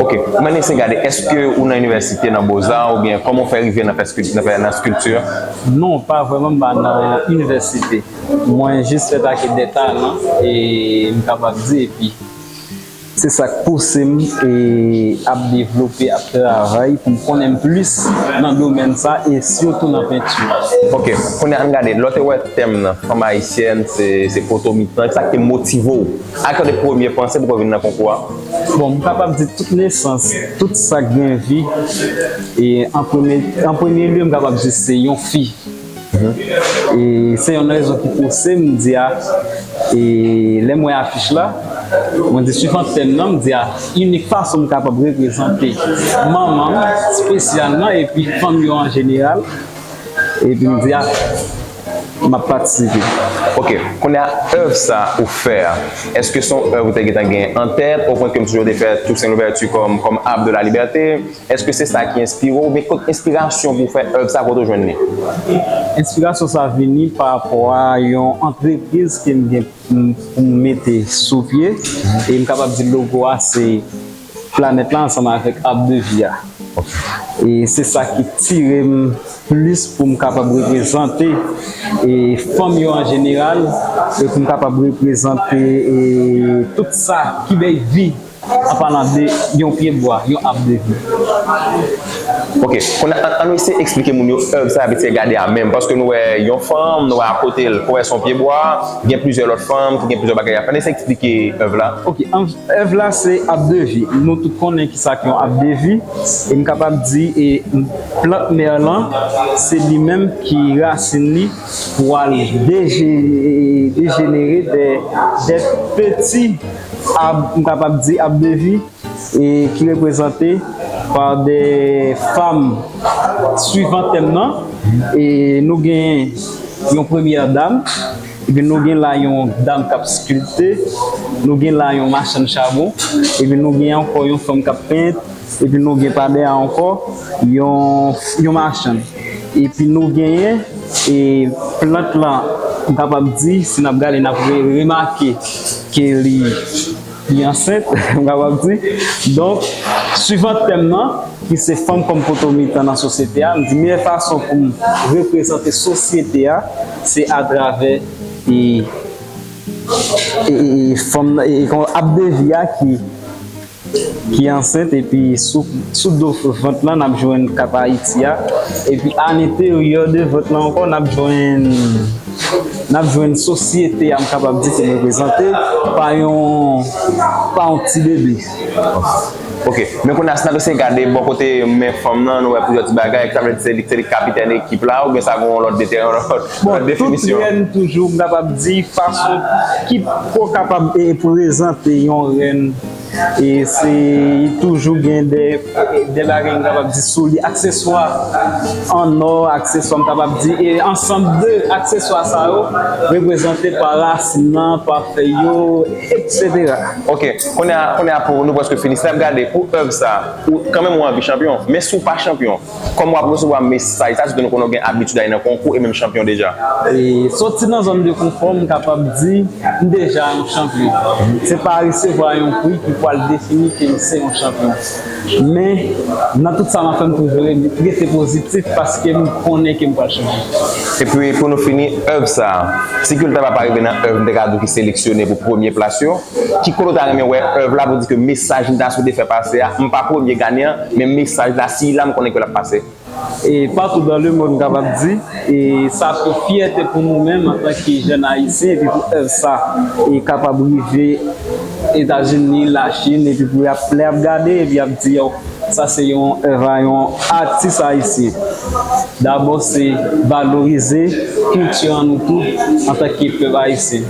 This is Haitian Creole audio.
Ok, m annik se gade, eske ou nan inivèsite, nan boza ou byen kòman ou fè rive nan pèskilti, nan fè, nan skilti? Non, pa vrèman m pa nan inivèsite. Mwen jis fè ta ke de talan e m kapab di epi se sa k pouse m e ap devlope, ap travay pou m konnen plis nan domèn sa e sitou nan penti. Ok, kounye a ann gade, lè w te wè tèm nan, fanm ayisyèn se poto mitan, ki sa k te motive w? Ak yon de premye panse pou w vin nan konkou a? Bon, m kapab di tout nesans, tout sa k gen vi, e an premye, an premye lye m kapab di se yon fi. E se yonn nan rezon ki pouse m di a, e lè m wè afich la, mwen di suivant tèm nan, m di a inik fason m kapab reprezante manman m spesyalman epi fanm yo an jeneral, epi m di a. M ap patisipe. Ok, kounye a èv sa ou fè a, èske se yon èv ou te gentan gen an tèt opwen ke m toujou te fè Toussaint Louverture kòm kòm Arbre de la Liberté? Èske se sa ki enspire w oubyen kot enspirasyon pou w fè èv sa kote w jwenn li? Enspirasyon sa vini pa rapò a yon antrepriz ke m gen pou m mete sou pye e m kapab di logo a se. planèt la ansanm avèk Arbre de vie a e se sa ki tire m plis pou m kapab reprezante fanm yo an jeneral e pou m kapab reprezante tout sa ki bay vi an palan de yon pye bwa, yon Arbre de vie. Ok, kounye a an nou eseye eksplike moun yo èb sa y ap eseye gade a menm paske nou wè yon fanm, nou wè akote l, fò wè s on pye bwa, gen plizyè lòt fanm ki gen plizyè bagay y ap fè, an n eseye eksplike èb la. Ok, an. Èv la se ab de vi. Nou tout konnen ki sa k yon ab de vi. E m kapab di e plant mèr lan se li menm ki rasin li pwal deje dejenere dè dè peti ab m kapab di ab de vi e ki reprezante pa dè fam swivan tèm nan e nou gen yon premyè dam. Epi nou gen la yon dam k ap skilpte, nou gen la yon machann chabon, epi nou gen ankò yon fanm k ap pent, epi nou gen pa dèyè a ankò yon machann. Epi nou genyen e plant lan m kapab di si n ap gade n ap remake ke li. Li ansent, m kapab di. Donk, suivant tèm nan, ki se Fanm kòm poto mitan nan sosyete a, m di meyè fason pou m reprezante sosyete a, se atravè e fanm nan, e kon Abdevi a ki ki ansent epi sou sou do vant lan n ap jwenn kat Ayiti a, epi a lenteryè de vant lan ankò n ap jwenn. n ap jwenn sosyete a m kapab di ki reprezante pa yon ti bebe. Ok. Men kounye a si n ap eseye gade bò kote men fanm nan, nou wè plizyè ti bagay, sa vle di se li ki kapitèn ekip la oubyen sa gen yon lòt definisyon? Tout rèn toujou m kapab di fason ki pou kapab reprezante yon rèn. E se toujou gen de de bagay m kapab di sou li, akseswa an ò, akseswa m kapab di e ansanm de akseswa sa yo reprezante pa rasin nan, pa fèy yo, eksetera. Ok, kounye a, kounye a pou nou prèske fini, si n ap gade pou èv sa a, ou kanmenm ou anvi chanpyon, men si w pa chanpyon, Kòm w ap resevwa mesaj sa, se ke nou konnen w gen abitid ale nan konkou e menm chanpyon deja. Soti nan zòn de konfò, m kapab di m deja yon chanpyon. Se pa resevwa yon pri ki pwal defini ke m se yon chanpyon. Men, nan tout sa m ap fè m toujou rete pozitif paske m konnen ke m pwal chanpyon. E pi pou nou fini, èv sa, si Kultaba pa rive nan èv m te ka di w ki seleksyone pou premye plas yo, Ki kote w ta renmen wè èv la pou di ke mesaj li ta swete fè pase a, m pa premye Ganen an, men mesaj la siy la m konnen ke l ap pase. E patou dan le mond m kapab di, e sa ap yon fyète pou nou menm antan ke jèn Ayisyen epi pou èv sa e kapab rive Etazini, Lachin epi pou y ap lè y ap gade epi y ap di yo sa se yon èv a yon atis Ayisyen. Dabò se valorize kilti an nou tou antan ke pèp Ayisyen.